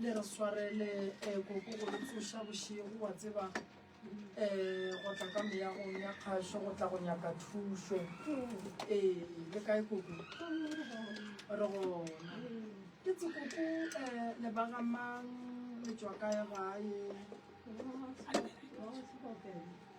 Le re swarele eh, koko go re tsoša bošego wa tseba eh, go tla ka meyagong ya kgašo go tla go nyaka thušo ee le kae koko re gona ke tse koko eh, le bagamang le tswa kae gae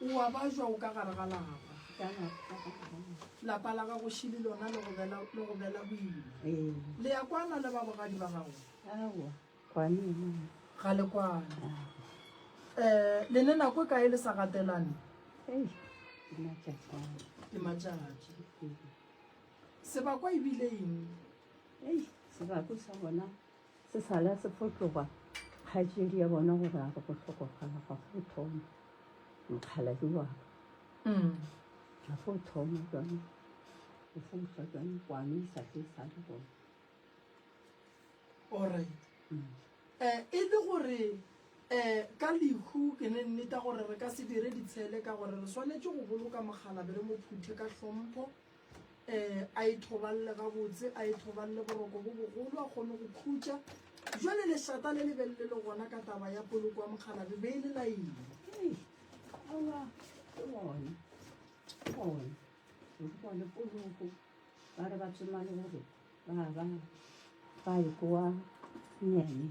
o a bajwa o ka gare ga lapa lapa la gago šili lona le go bela boima ee. le ya kwana le babogadi ba gago ga le kwana um eh, le ne nako e kae le sa gatelane ke matšatši sebakwa ebile eng sebako sa bona Se sa la se fo tloga kgaetšedi ya bona gore a re go hlokofala ga go thoma mokgaladi wa mm. ga go thoma jone o fousa jone kwane e sa ke sa le gone allright um mm. eh, e le gore um ka lehu ke ne nneta gore re ka se dire ditshele ka gore re swanetse go boloka mokgalabe re mo phuthe ka hlompho um a ithoballe gabotse a ithoballe boroko bo bogolo a kgone go khutša jale lešata le lebele le le gona ka taba ya poloko wa mokgalabe be e le laeng ba re ba tsoma le gore ba ba ba e kowa nyane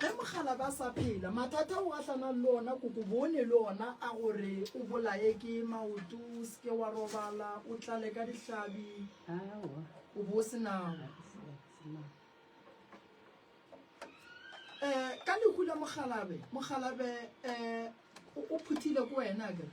Ge mokgalabje a sa phela, mathata ao a tlanang le ona kokobone le ona a gore o bolaye ke maoto, o se ke wa robala, o tlale ka dihlabi, o bo o se nago. um ka lehu la mokgalabe mokgalabe um o phuthile ko wena kere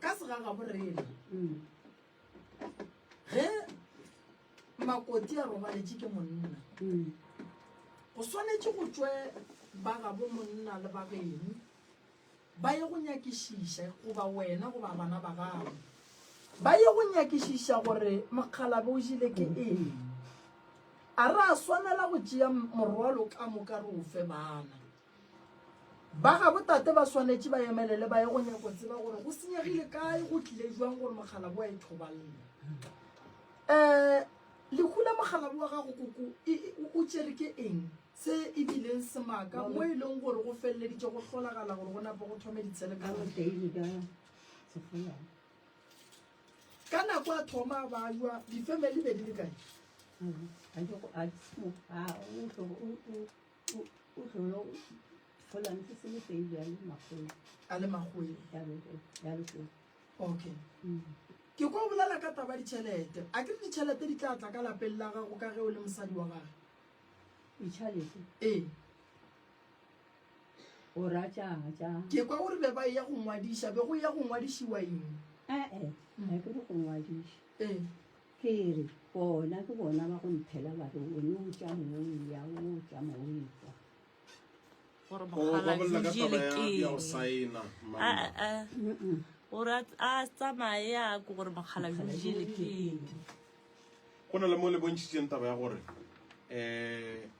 ka segaga borena mm. ge makoti a robaletše ke monna mm. go swanetše go tswe ba gabo monna le bageno ba ye go nyakišiša goba wena goba bana ba gago ba ye go nyakišiša gore mokgalabe o jile ke mm. eng a re a swanela go tšea morwalo ka moka re o fe bana Ba ga botate ba swanetše ba emelele ba ye go nyako tseba gore go senyegile kae go tlile jwang gore mokgalabo wa e thobalela. Eh, lehu la mokgalabo wa gago koko o tšere ke eng se e bileng semaka mo e leng gore go feleleditše go hlolagala gore go nape go thome ditshelekano ka nako a thoma a bajwa difemeli be di le kae o tlolo gola ntse se le teng bjale magolo a le magolo jalo teng okay mm. ke ko o bolela ka taba ditšhelete a ke re ditšhelete di tla tla ka lapeng la gago ka ge o le mosadi wa gage ditšhelete ee o ratšang ja ke kwa o re be ba e ya go ngwadiša be go ya go ngwadišiwa eng ee ga ke re go ngwadiša ee Ke re, Bona ke bona ba go mphela ba re, O no tša moya, o tša moya. gore O mokgalabje babolela ka taba ya, ya go lekeng saena mama. Mm-mm. gore a tl- a tsamaye a ko gore mokgalabje lekeng Go na le mo le bontšhitšeng taba ya gore um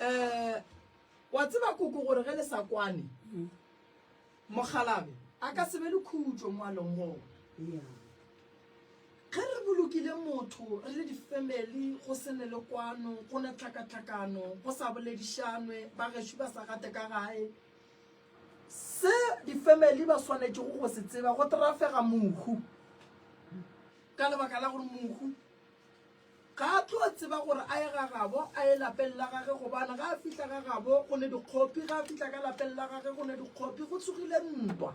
um wa tseba koko gore ge le sa kwane mm. mogalabe a ka sebe le khutšo moalong gona ge re bolokile motho re le difamily go se ne le kwano go na tlhakatlhakano go sa boledišanwe ba gešo ba sa gate ka gae se difamily ba swanetšego go se tseba go trafega mohu ka lebaka la gore mohu Ga a tlo tseba gore a ye ga gabo, a ye lapeng la gage, gobane ga a fihla ga gabo go ne dikgopi, ga a fihla ka lapeng la gage go ne dikgopi, go tsogile ntwa.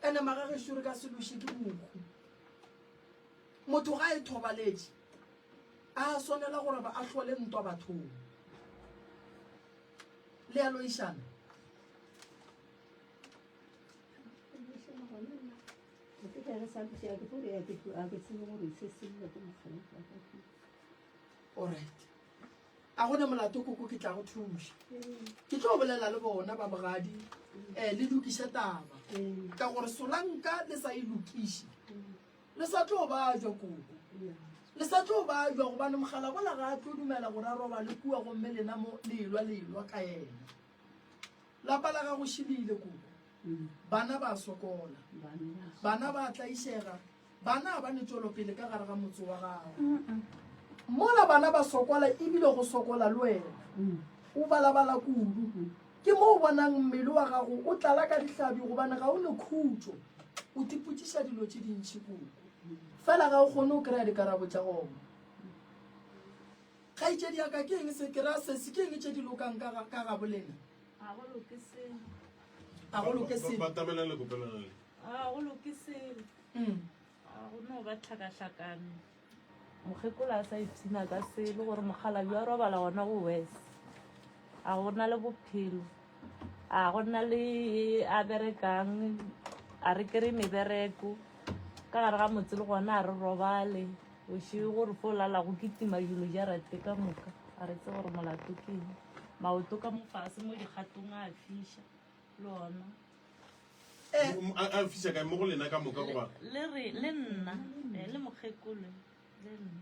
Ene magagešo re ka se loše ke mohu. Motho ga a e thobaletše, a swanela gore ba a hlole ntwa bathong. Le a loišana? orit a gone molato koko ke tla go thuša ke tlo bolela le bona ba bogadi um eh, le lokiše taba ka gore solanka le sa e lokiše le sa tlo ba jwa koko le sa tlo ba jwa gobane mogala bola ga a tlo dumela gore a roba le kua gomme lena mo lelwa lelwa ka ena Lapa la gago šilile koko. Bana ba sokola. Bana ba tlaišega. Bana ga ba ne tšwelopele ka gare ga motse wa gago. Mola bana ba sokola ebile go sokola le wena. O balabala kudu. Ke mo o bonang mmele wa gago o tlala ka dihlabi gobane ga o ne khutšo. O tipotsiša dilo tše dintši koko. Fela ga o kgone o kry-a dikarabo tša gona. Kgaetšedi ya ka, ke eng se ke ra sesi? Ke eng tše di lokang ka ga, ka ga bolena? Ga go loke selo. Ga go loke selo. Batamela le kopelana le. Ga go loke selo. Mm. Ga go no ba tlhakatlhakano. Mokgekolo a sa ipshina ka selo gore mokgalabje wa robala gona go wes. A go na le bophelo. a go nna le a berekang a re kry mebereko ka gare ga motse le gona a re robale oše gore fo lala go kitima yulo ja rate ka moka a re tse gore molato keng maoto ka mofase mo dikgatong a fiša le ona eh, a fiša kae mo go lena ka moka goba le nna eh, le mokgekolo le nna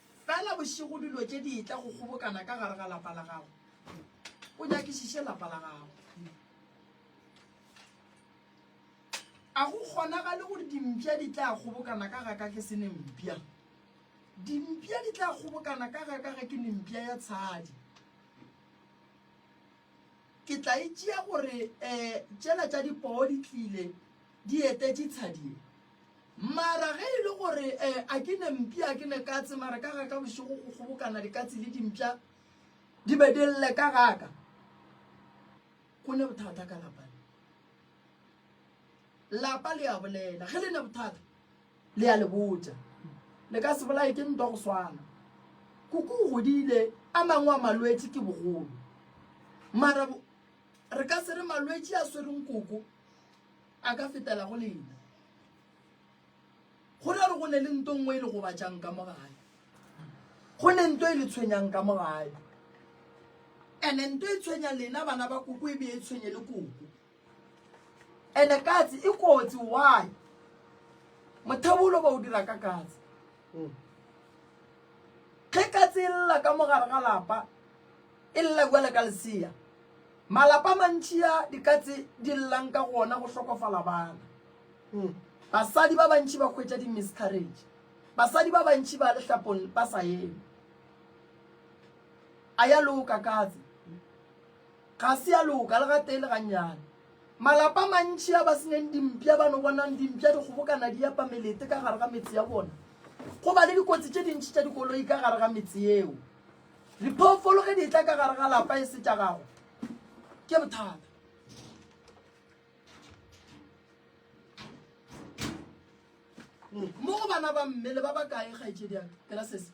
Fela bošego dilo tše di etla go kgobokana ka gare ga lapa la gago. O nyakišiše lapa la gago. A go kgonagale gore dimpša di tla kgobokana ka ga ka ke se nempša? Dimpša di tla kgobokana ka ga ka ge ke nempša ya tshadi. Ke tla e tšea gore um tšela tša dipoo di tlile Di etetše tshadi ye. Mara ge e le gore eh, a ke ne mpi, a ke ne katse, mara ka ga ka bošego go kgobokana dikatse le dimpša di be di lle ka ga ka. Go ne bothata ka lapa le. Lapa le a bolela. Ge le ne bothata, le a le botša. Le ka se bolaye ke ntwa go swana. Kuku o godile, a mangwe a malwetši ke bogolo. Mara Re ka se re malwetši a swereng koko a ka fetela go lena. Go ra re go ne le nto nngwe e le gobatšang ka mo gae. Go ne nto e le tshwenyang ka mo gae. Ene nto e tshwenya lena bana ba koko e be e tshwenye le koko. Ene katse e kotsi why? Mothabolo ba o dira ka katse. Ge katse e lla ka mo gare ga lapa E lla bjale ka lesea. Malapa a mantši a dikatse di llang ka go ona go hlokofala bana. Basadi ba bantši ba hwetša di-miscarriage. Basadi ba bantši ba lehlapong ba sa eme. A ya loka katse? Ga se ya loka le gatee le gannyane. Malapa a mantši a ba senyang dimpša, ba no bonang dimpša di kgobokana di epa melete ka gare ga metse ya bona. Go ba le dikotsi tše dintši tša dikoloi ka gare ga metse yeo. Diphoofolo ge di tla ka gare ga lapa e se tša gago ke bothata. Mo go bana ba mme le ba ba kae kgaetšedi ya ke ra sese.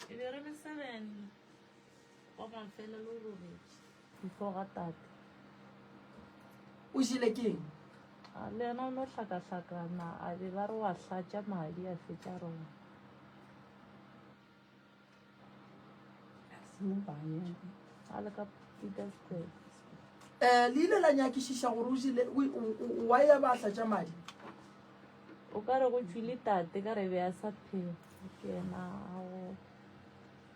E be re le seven go ba fela lo robetše. Before ga tate. O jile keng? A le yena o no hlakahlakana a be ba re wa hlatša madi a fetša rona. um le ile la nyakišiša gore o jile wa ya ba tla tša madi o ka re go tšwile tate ka re be a sa phela ke ena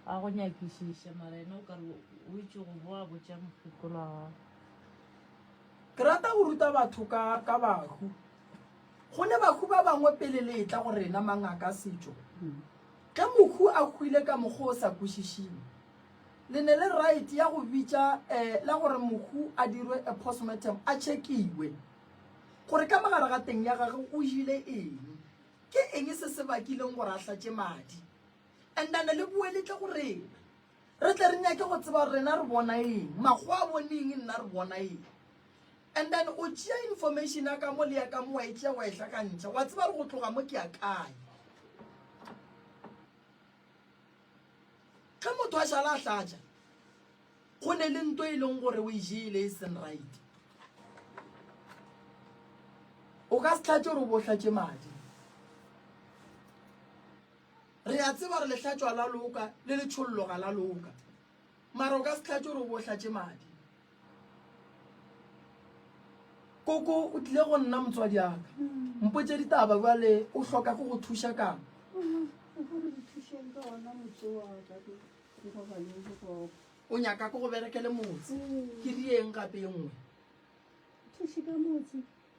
a go nyakišiša mara ena o ka re o itse go boa botša mokgekolo wa gago ke rata go ruta batho ka ka bahu go ne bahu ba bangwe pele le etla go rena mangaka setšo mm. Ge Mokhu a hwile ka mokgwa o sa kwešišing, le ne le right ya go bitša eh la gore Mokhu a dirwe a postmortem a tšhekiwe gore ka mogare ga teng ya gage o jile eng, ke eng se se bakileng gore a hlatše madi and a ne le boe le tle go rena. Re tle re nyake go tseba gore rena re bona eng, makgowa a bone eng, nna re bona eng. And then o tšea information ya ka mo le ya ka mo wa e tšea wa e hlakantšha, wa tseba gore go tloga mo ke ya kae. Ge motho a šala a hlatša, go ne le nto e leng gore o e jele e seng right. O ka se hlatše gore o bo hlatše madi. Re a tseba gore lehlatšwa la loka le letšhollo ga la loka, mara o ka se tlhatše gore o bo hlatše madi. Koko o tlile go nna motswadi aka mpotše ditaba bjale o hloka go go thuša kang? o nyaka ko go berekele motse ke rieng gape e nngwe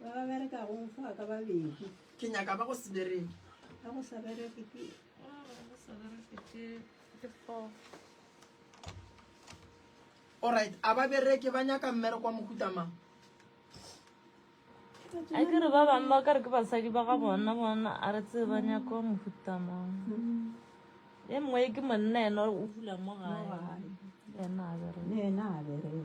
ba ba berekagong fa ka babedi ke nyaka ba go se bereke ba go sa bereke ke alright a ba bereke ba nyaka mmereko wa mokutama a ke re ba bangwe ba ka re ke basadi ba ga bona bona a re tse ba nyaka wa mofutamang e mongwe ke monna ena o fula mo gae ena a bereke